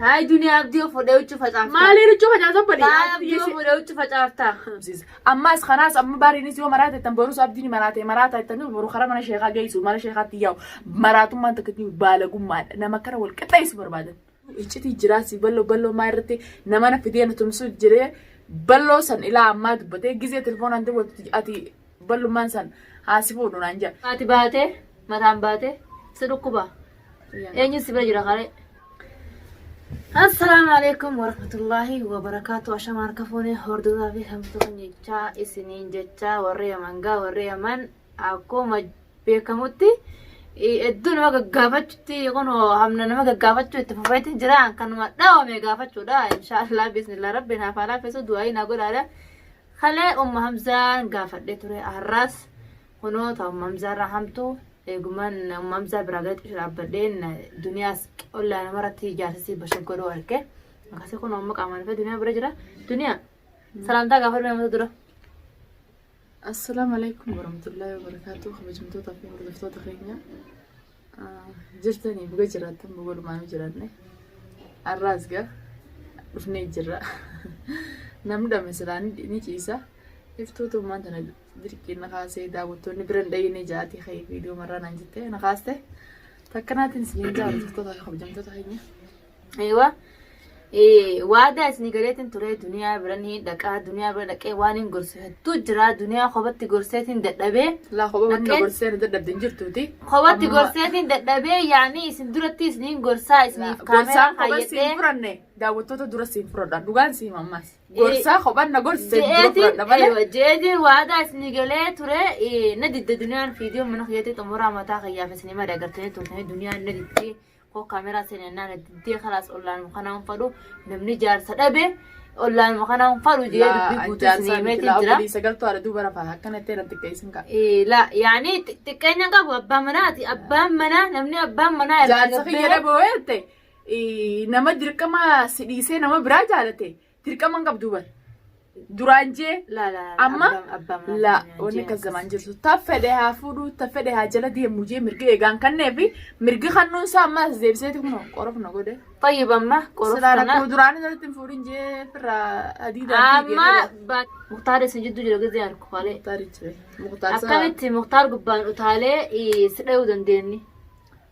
Taa'ee Juniyaa Abdii of fuudhee huccuu facaafta. Maalii huccuu facaasa bali? Taa'ee Abdii of fuudhee huccuu facaafta. Ammaas kanaas amma baariinis yoo maraate ittan borus abdiin maraate maraata ittan boru karaa mana sheekaa geessu mana sheekaatti yaa'u maraatummaan takka itti baalagummaadha nama kana wal qixxeessu barbaadan. Iccitii jiraasi balloo balloo maa irratti nama na fidee na tumsu jiree balloo san ilaa ammaa dubbatee gizee telefoonaan dubbatu ati ballummaan san haasifuu dhunaan jira. Ati baatee mataan baatee si dhukkuba. Eenyu si bira jira karee? Assalaamu alaikum warahmatullaahi wabarakaatu ashama harka fuunee hordofaa fi hamtuun jechaa isiniin jechaa warri yaman gaa warri yaman akkuma beekamutti hedduu nama gaggaafachutti kun hamna nama gaggaafachuu itti fufeetiin jira kanuma dhaawame gaafachuudha inshaallah bismillah rabbi naaf haa laaffisu du'aayi naa godhaadha kalee umma hamzaan gaafadhee ture har'aas Kunoo ta umma Hamzaa irraa hamtu eeguman umma Hamzaa biraa gadi xiqqisha dhaabbadheen duniyaas ollaa nama irratti ijaarsisii bashaggodhoo arke akkasii kunoo amma qaamaan dhufee duniyaa bira jira duniyaa salaamtaa gaafa dhumee mata dura Assalaamu alaikum warahmatullahi wabarakatuh kabajamtoota fi hordoftoota keenya jirtanii buga jiraattan buga lumaanu jiranne arraas ga dhufnee jirra namni dhame silaa ni ni ciisa iftuutu ummaan tana dirqiin na kaasee daawwattoonni bira hin dhayine jaatii ka'ee viidiyoo marraa naan jettee na kaaste takkanaatiin isiniin jaallatu tola kabajamtoota keenya. Eewa waadaa isin galeetiin turee duniyaa bira ni dhaqaa duniyaa bira dhaqee waan hin gorsu hedduu jiraa duniyaa kophaatti gorseetiin dadhabee. Laa kophaa wanni na gorsee na dadhabde hin jirtuuti. Kophaatti gorseetiin dadhabee yaanii isin duratti isiniin gorsaa isiniif kaameeraa Gorsaa kophaa siin kaayyadhee. furanne daawwattoota dura siin furadha dhugaan siin ammas. Gorsaa kophaa na gorsee dura furadha malee. Jeetiin waadaa isin galee ture na didde duniyaan fiidiyoo mana kiyyaatti xumuraa mataa kiyyaaf isin hima dagartanii turtanii duniyaan na diddee koo kaameraa seenee naan itti dee kalaas ollaan kanaan fadhu namni jaarsa dhabe ollaan kanaan fadhu jee dubbii guutuu isin himeetiin jira. Sagaltuu haadha duuba rafaa akkanatti irra xiqqeessin ka'a. La yaani xiqqeenya qabu abbaa manaati abbaan manaa namni abbaan manaa irraa Jaarsa kiyya gabbee- dhaboo jette nama dirqama si dhiisee nama biraa jaalate Dirqama hin qabdu bar. Duraan jee La la la. Amma? abbaan- abbaan maaf la naan wanni jee akkas akkas. zamaan jirtu ta fedhe haa fuudhu ta fedhe haa jala deemu jee mirga eegaan kannee fi mirga kannuun isaa ammaas deebiseeti kun qorof na godhe. Tayyib amma Silaa qorofsana. rakkoo duraan irratti hin fuudhin jee firraa adii Amma ba- Muktaar isa jiddu jira gizee harku kalee. Muktaar jira. Muktaar isaa. Akkamitti Muktaar gubbaan utaalee eh, si dhayuu dandeenye?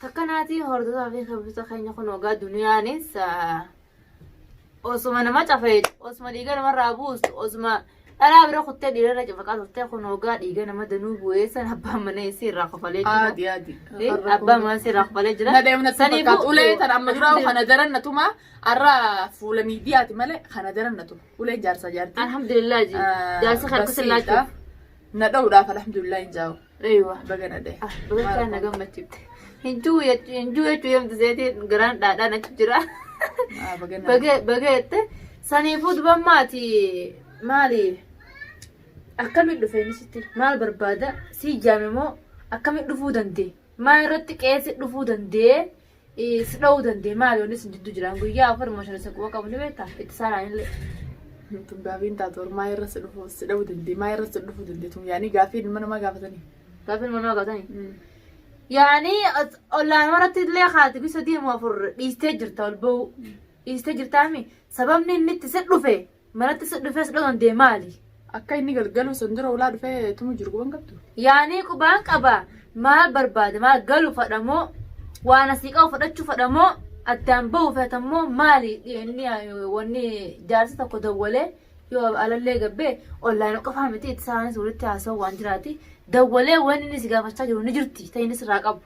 Takka naatii hordofaa fi kabisa keenya kun ogaa duniyaanis osuma nama cafee osuma dhiiga namarraa buustu osuma dhalaa bira kuttee dhiirarra cafaqaa turtee kun ogaa dhiiga nama danuu bu'ee san abbaan mana isii irraa kofalee jira. Aadi aadi. Abbaan mana isii irraa kofalee jira. Na deemna Sanii fakkaatu. boo- Ulee tan amma duraa kana daran na tuma. Arra fuula miidiyaati malee kana daran na tuma. Uleen jaarsa jaarti. Alhamdulillah ji. Ah, Jaarsa kan akkasii basiidha. laachuuf. Na dha'uudhaaf alhamdulillah hin jaa'u. Eeywa. Baga nadhe. Ah, Baga na gammachiifte. Hin jiru jechuu hin jiru jechuu yemti seetiin garaan dhaadhaan achi jira. Ah, baga nadhe. Baga baga jette saniifuu duban maati maali akkamitti dhufe inni sitti maal barbaada si jaame moo akkamitti dhufuu dandee maa irratti qeessi dhufuu dandee Is dha'uu dandee maali wanni isin jidduu jiraan guyyaa afur moo shan isa quba qabu ni beektaa itti saaraan illee. Tun gaafiin taatu warmaa irra si dhufu si dha'uu dandee maa irra si dhufu dandee tun yaanii gaafii ilma namaa gaafatanii. Gaafiin manaa gaatanii. Yaani ollaan irratti illee haati bi sadii moo afur dhiistee jirta ol ba'uu. Dhiistee jirtaami sababni inni itti si dhufe Manatti si dhufee si dhagandee maali? Akka inni galgaluu san dura ulaa dhufee tumu jiru quban qabdu. Yaanii qubaan qaba maal barbaada maal galu fadha moo waan asii qabu fudhachuu fadha moo addaan bahu feeta moo maali inni wanni jaarsi tokko dawwalee yoo alallee gabbee ollaan qofaa miti itti isaanis walitti haasa'u waan jiraati dawwalee wanni inni si gaafachaa jiru ni jirti ta'innis irraa qabu.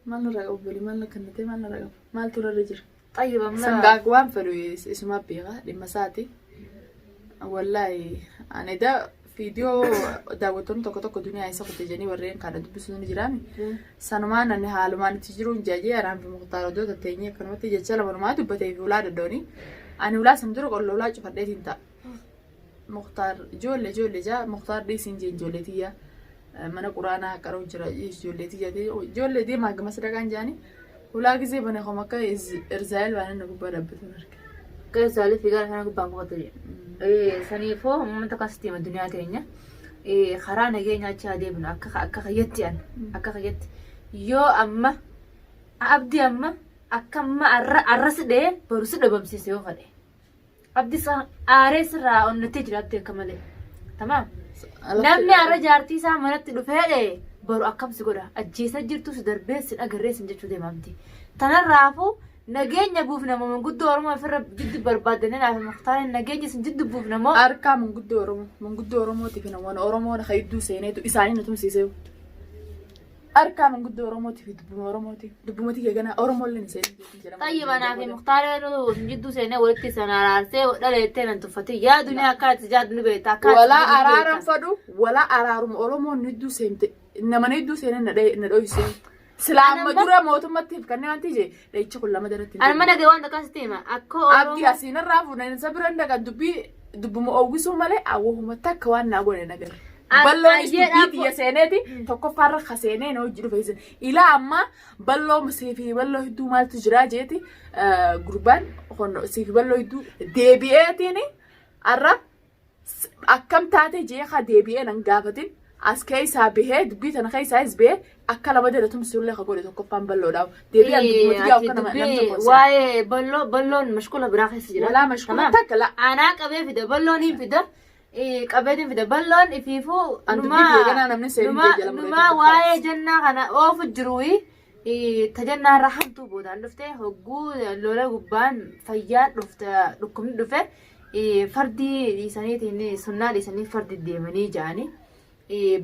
Maal irraa qabu bali maal akka nutee maal irraa qabu maaltu irra jira. طيب أما Sangaa waan fedhu isuma beeka dhimma isaati. Wallaahi ani da viidiyoo daawwattoonni tokko tokko duniyaa isa kute jedhanii warreen kana dubbisuu ni jiraan. Sanumaan ani haalumaan itti jiruun jaajee araan fi muktaar oddoo tatteenyee akkanumatti jecha lamanumaa dubbatee fi ulaa daddooni. Ani ulaa san dura qolla ulaa cufadheetiin ta'a. Muktaar ijoollee ijoollee jaa Muktaar dhiisiin jeen ijoollee tiyya mana quraanaa qaroo jira ijoollee tiyya ijoollee deemaa gama sadaqaan jaani hulaa gisee bane koma akka irzaayil waan inni gubbaa dhabbatu marge. Akka irzaayil fiigaa kana gubbaa qubatu jee. Saniifoo uummata kan sitti hima duniyaa teenya. Karaa nageenya achi haa deebinu akka akka kayyatti an akka kayyatti yoo amma abdi amma akka amma arra arra si dhee boru si dhabamsiise yoo fadhe. Abdisa aaree sirraa onnattee jiraatte akka malee. Tamaam. Namni har'a jaartii isaa manatti dhufee dhee boru akkam si godha ajjeesa jirtu si darbee si dhagarree sin jechuu deema abdi. Tanarraafuu nageenya buufna moo manguddoo Oromoo ofirra jiddu barbaadanii laata muktaariin nageenya sin jiddu buufna moo. Harkaa manguddoo Oromoo. Manguddoo Oromootiif hin waan Oromoon hayidduu seeneetu isaanii nu tumsiisee. Harkaa manguddoo Oromootii fi dubbuma Oromootiin. Dubbuma tiyya ganaa Oromoo illee ni seetii jeetii jedhama. Tayyi manaa fi muktaara yeroo jidduu seenee walitti san araarsee dhala jettee nan tuffatin. Yaa duniyaa akka ati jaaddu ni beekta. Akka ati Walaa jibbinu ni araaran beekta. fadhu, walaa araaruma Oromoon nu hedduu seente, namana hedduu seenan na dhaye- na dhoysee. Silaa Ana amma ma- dura mootummattiif kanneen wanti jee Dhayichi kun lama daratti hin Arma dhagee waan takkaa sitti hima. Akka Abdi Oromoo. asiin irraa fuudhan isa bira hin dhaqan dubbii dubbuma oowwisuu malee awwahuma takka waan naa godhe hin agarre. As- Balloonis baay'ee dubbii dhaabbo- xiyya seeneeti Mm. tokkoffaa irra ka seenee na hojii dhufe isin. Ilaa ammaa balloo siifi balloo hedduu maaltu jiraa jeeti eh, gurbaan kun siifi balloo hedduu deebi'eetiin har'a akkam taate jee ka deebi'ee nan gaafatin as keessaa bahee dubbii tana keessaa is bahee akka lama dada tumsullee ka godhe tokkoffaan balloodhaaf deebi'an dubbatu yaa akka nama namni tokko isa. waa'ee balloo balloon mashkula biraa keessa jira Walaa mashkula Tamaam. takka la. aanaa qabee fida balloon hin fida eh, qabeetiin fida balloon ifiifuu An dubbii numaa- biyya ganaa namni seerii numaa- biyya jala muree numaa tokko waa'ee jennaa kana oofu jiruuyi tajannaa irraa hamtuu boodaan dhufte hogguu lola gubbaan fayyaa dhufte dhukkubni dhufe fardii dhiisaniitiin sunnaa dhiisanii fardi deemanii ja'anii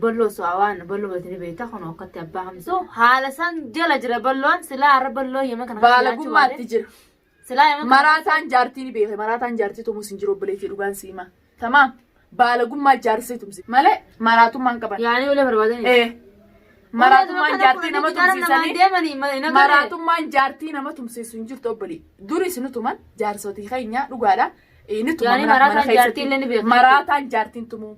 balloo su'aa waan balloo batanii beektaa kun akkatti abbaa hamsu haala san jala jira balloon silaa har'a balloo yema kana baalagummaatti jira. Maraataan jaartii ni beeke maraataan jaartii tumuus hin jiru obboleettii dhugaan si hima. Tamaam baalagummaa jaarsee tumsi malee maraatummaan qaban. Yaanii olee barbaadanii. Ee maraatummaan jaartii nama tumsiisanii maraatummaan jaartii nama tumsiisu hin jirtu obbolee. Duris nu tuman jaarsotii keenyaa dhugaadha. Ee, Ni tuman Yaanii mana- maraataan mana keessatti. jaartii illee ni beekna. Maraataan jaartiin tumuu.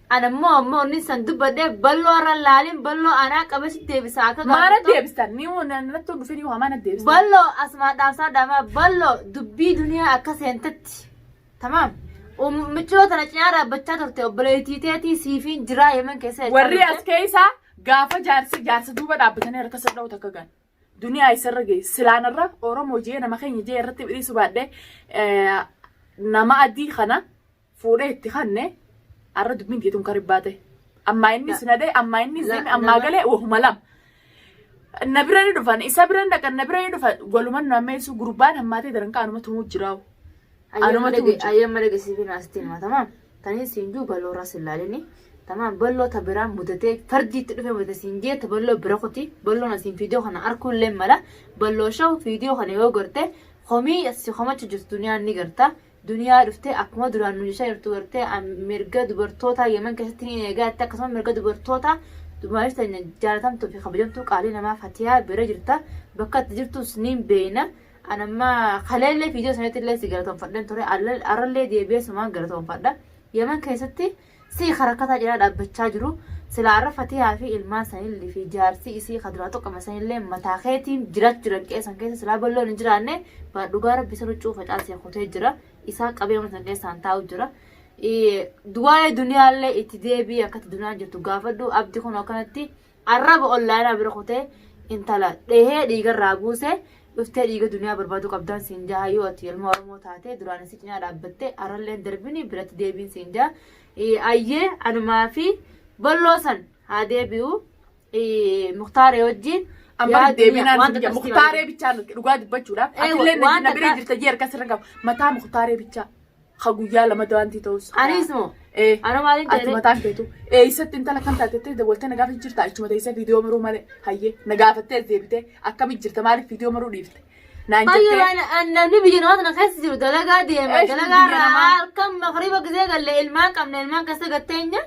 Ana immoo amma onni san dubbadhee balloo irra laalin balloo anaa qabee si deebisa akka Maana gaafatu. deebistan ni natti dhufee ni maana deebistan. Balloo asumaa dhaamsaa dhaamaa balloo dubbii duniyaa akka seentetti. Tamaam. Michiroo tana cinaa dhaabbachaa turte obboleettii teetii siifiin jiraa yemen keessa jechaa Warri turte. as keessaa gaafa jaarsi jaarsa duuba dhaabbatanii harka sadha'u takka gan. duniyaa isarra ga'e silaan irra oromoo jee nama keenya jee irratti dhiisu baadhee nama adii kana fuudhee itti kanne arra dubbiin keetuun kan ribbaa ta'e ammaa inni sinadee ammaa inni zeeme ammaa galee wahuma lama. Na bira ni dhufan isa bira dhaqan na bira ni dhufan waluman nu ammeessu gurbaan hammaatee daran kaanuma tumuu jiraa'u. Anuma tu mucaa. Ayyamma dhage si fi naasti hima tamaam. Tanii siin juu baloo irraa sin laalini. Tamaam balloo ta biraa mudatee fardii itti dhufee mudate siin jee ta balloo bira koti balloon asiin fiidiyoo kana arkuu illee mala balloo shaw fiidiyoo kana yoo garte komii si komachu jirtu duniyaan ni garta. Duniyaa dhuftee akkuma duraan nu jechaa jirtu gartee am- mirga dubartootaa yeman keessatti ni eegaa jettee akkasuma mirga dubartootaa dumaashii tanya jaalatamtuu fi kabajamtuu qaalii namaa fatiyaa bira jirta bakka itti jirtus ni beeyna. An amma kaleellee viidiyoo sanatti illee si galatoonfadheen ture. Alla- Arrallee deebi'ee sumaan galatoonfadha. Yaman keessatti si karakkataa jira dhaabbachaa jiru. Silaa arra fatiyaa fi ilmaan sanillee fi jaarsi isii kan duraa tokko sanillee mataa keetiin jiraachuu jiran qeessan keessa silaa balloon hin jiraanne baa dhugaa rabbi sana cuufa caasee kutee jira. Isaa qabee mana sana keessaan taa'u jira. Ee, Waa'ee duniyaallee itti deebi'ee akkatti duniyaan jirtu gaafadhu abdi kun akkanatti Arraba ollaanaa bira kutee intala dhehee dhiiga irraa buusee dhuftee dhiiga duniyaa barbaaduu qabdaan siin jaha yoo ati ilma Oromoo taatee duraan isii cinaa dhaabbattee arralleen darbini biratti deebiin siin jaha. Eh, Ayyee anumaa fi bolloo san haa deebi'u eh, muktaaree wajjin Amma yaa duniyaa deebiinaan wanta biyya akkasii muktaaree bichaa nuti dhugaa dubbachuudhaaf Eh, atillee na- wanta na bira akka- jirta jee harka sirra hin qabu mataa muktaaree bichaa. ka guyyaa lama daantii ta'us. Anis moo? Ee. Ana maaliin Ati ta'e? mataan keetu eessatti intala kan taatettee dabaltee na gaafa jirta achuma teessee viidiyoo maruu malee hayyee na gaafattee deebitee akkamitti jirta maaliif viidiyoo maruu dhiifte naan Baay'ee jettee waan- namni biyya namaa tana keessa jiru dalagaa deema. Eesh, Dalagaa biyya irraa namaa. halkan makriba gisee galle ilmaan qabna ilmaan keessa gatteenya.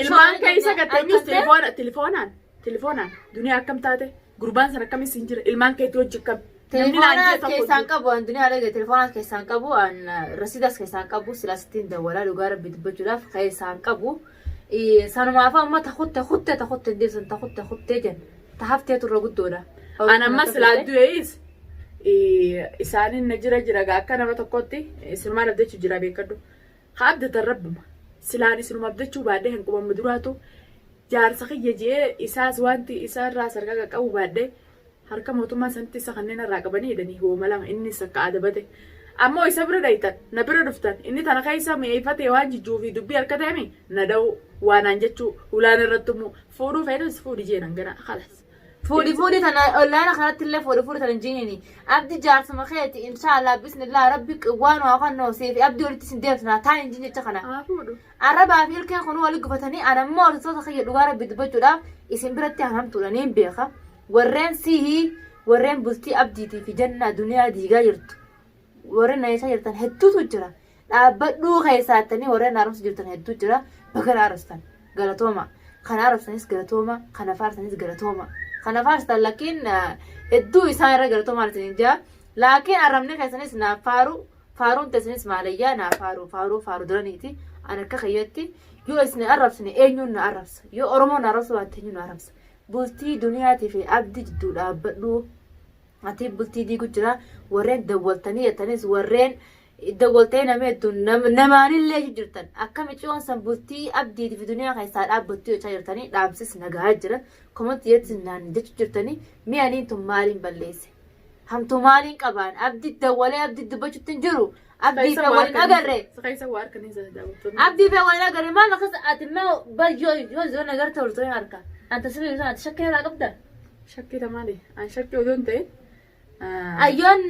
Ilmaan keessa gatteenyus telefoona telefoonaan Telefoonaan duniyaa akkam taate gurbaan sana akkamis hin jira ilmaan keetti hojji akkam. Telefoona keessaan qabu an duniyaa dhage telefoona keessaan qabu an rasiidas keessaan qabu silas ittiin dawwalaa dhugaa rabbi dubbachuudhaaf keessaan qabu. Sanumaaf amma ta kutte kutte ta kutte hin deebisan ta kutte kutte jen ta haftee turre guddoodha. An amma silaa du'ees isaaniin na jira jira gaa akka nama tokkotti sinumaa naf jechu jira beekadhu. Haa abdatan rabbuma. Silaan isinuma abdachuu baadhee kan qubamma duraatu jaarsa kiyya je'ee isaas waanti isa irraa sarkaa qaqqabu baadhee harka mootummaa sanitti isa kanneen irraa qabanii hidhanii hooma lama innis akka adabate ammoo isa bira dhayxan na bira dhuftan inni tana keessa mi'eeyfatee waan jijjuu fi dubbii harka ta'emi na da'uu waanaan jechuu hulaan irratti ummuu fuudhuu feetas fuudhi jeenan ganaa kalas. Fuudhi fuudhi tana ollaana kanatti illee fuudhi fuudhi tana hin jiinini. Abdi jaarsuma keeti inshaallah bismillah rabbi waan waa kan noo seefi abdi walitti sin deebisna taa hin jiin jecha kana. Haa fuudhu. Arrabaa fi ilkeen kun wali gufatanii an ammoo hordoftoota kiyya dhugaa rabbi dubbachuudhaaf isin biratti an hamtuudha niin beeka. Warreen sihii warreen bultii abdiitii fi jannaa duniyaa diigaa jirtu warreen nayeessaa jirtan hedduutu jira. Dhaabbadhuu keessaattanii warreen na arrabsu jirtan hedduu jira. Baga na arrabsitan. Galatooma. Kan arrabsanis galatooma. Kan afaarsanis galatooma. Kan afaarsitan lakkiin hedduu isaan irra galatoomaan isin jaa. Laakiin arrabni keessanis naaf faaru. Faaruun teessanis maalayyaa naaf faaru. Faaruu faaru duraniiti. An akka kiyyatti yoo isin arrabsine eenyuun na arrabsa. Yoo Oromoo na arrabsu baatte eenyuun na arrabsa. Bultii duniyaatii fi abdi jidduu dhaabbadhuu. Ati bultii diigu jira. Warreen dawwaltanii jettanis warreen Iddo goltee nama hedduun namaanillee jirtan akka miciyoon san bultii abdiiti fi duniyaa keessaa dhaabbattuu jechaa jirtanii dhaamsis nagaa jira komanti jetti naan jechu jirtanii mi'aniin tun maaliin balleesse hamtuu maaliin qabaan abdi dawwalee abdi dubbachutti hin jiru abdii fi waliin agarre abdii fi waliin agarre maal akkas ati immoo bar yoo yoo yoo nagar ta'u ture harka anta sirrii sun ati shakkii irraa qabda Shakkii maali? An shakkii odoo hin ta'in Ayyoon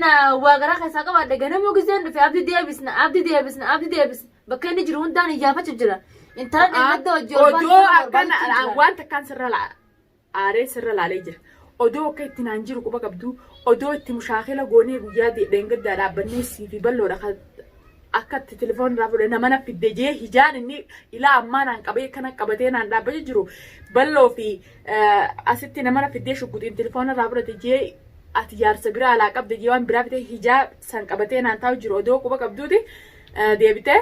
waa garaa keessaa qabaadhe ganamuu giseen dhufe abdi deebisna abdi deebisna abdi deebisna bakka inni jiru hundaan iyyaafachuuf jira. Intala dheengadda hojii olbaa Odoo sana akkan barbaachuuf jira. waan takkaan sirra la- aaree sirra laalee jira. Odoo akka itti naan jiru quba qabdu odoo itti mushaakila goonee guyyaa de- dheengaddaa dhaabbannee siifi balloodha kan akka itti telefoon irraa fudhe nama na fidde jee hijaan inni ilaa ammaa naan qabee kana qabatee naan dhaabbacha jiru balloo fi asitti nama na fiddee shugguxiin telefoon irraa fudhate jee ati jaarsa biraa alaa qabde jee waan biraa fite hijaa san qabatee naan taa'u jiru odoo quba qabduuti deebitee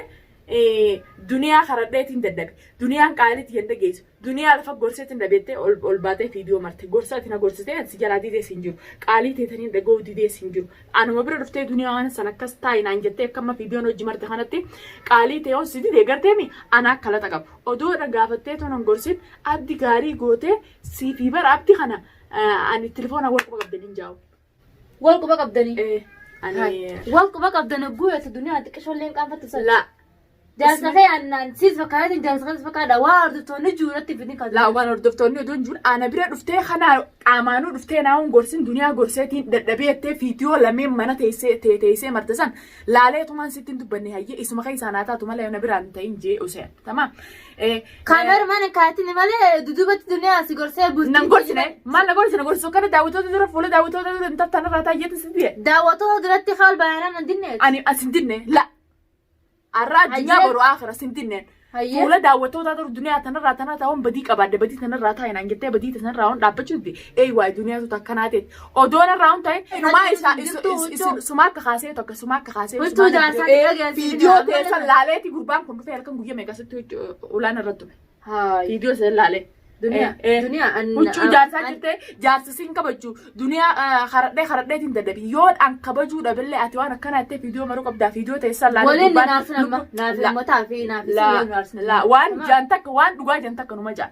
duniyaa karadheetiin dadhabe duniyaan qaalitti hin dhageessu Duniyaa lafa gorseetin dhabeettee ol ol baatee fiidiyoo marte gorsa ati na gorsitee an si jalaa didees hin jiru qaalii teetaniin dhaga'uu didees hin jiru anuma bira dhuftee duniyaa waan san akkas taa'i naan jettee akka amma fiidiyoon hojii marte kanatti qaalii tee on si didee garteemi ana akka laxa qabu odoo irra gaafattee toon hin gorsin abdi gaarii gootee siifii bara abdi kana ani tilifoona warqaba qabdaniin jaa'u. Wal quba qabdanii. Eh, Ani. Ani. Wal quba qabdan hogguu yootu duniyaa xiqqishoolleen qaanfattu sana. La. Jaarsa kee annaan siis fakkaatiin jaarsa kees fakkaadha. Waa hordoftoonni jiru irratti fidin kan. La waan hordoftoonni oduun jiru ana bira dhuftee kanaa qaamaanuu dhuftee naawun gorsin duniyaa gorseetiin dadhabee jettee fiitiyoo lameen mana teessee tee teessee marta san laalee tumaan sittiin dubbanne hayyee isuma keessaa naa taatu malee na biraan ta'in jee useen tamaa Kaameera mana kaatini malee dudubatti duniyaa si gorsee bultii. Nan gorsine maal na gorsine gorsu akkana daawwattoota dura fuula daawwattoota dura hin tartaan irraa taayyeetu si biye. Daawwattoota duratti kaal baay'inaan hin dinne. Ani an sin dinne la arraa addunyaa Hayyee. boru akira sin dinne. Hayyee. Fuula daawwattoota dura duniyaa tanarraa tanaa taa'uun badii qabaadde badii tanarraa taa'inaan jettee badii tanarraa waan dhaabbachuu didde eeywaa duniyaatu takkanaa ta'e. Odoo narraa hin ta'in inumaa isa isin sumaa akka kaasee tokko sumaa akka kaasee Wiirtuu jaarsaa xiqqaa geessanii viidiyoo nama teessan lama. laaleeti gurbaan kun dhufee halkan guyyaa meeqa sitti ulaan irra tume Haay. viidiyoo san laalee. Duniyaa. Eh, eh. Duniyaa. an- Huccuu an- jaarsaa an- jirtee jaarsa siin kabajju duniyaa haradhee haradheetiin dadhabi yoo an kabajuu dhabillee ati waan akkanaa jettee viidiyoo maruu qabdaa viidiyoo teessan laalee Waliin gurbaan- naaf nama. Naaf lubbu- ummataa fi naaf laa- laa, waan jaan takka waan dhugaa jaan takka numa jaan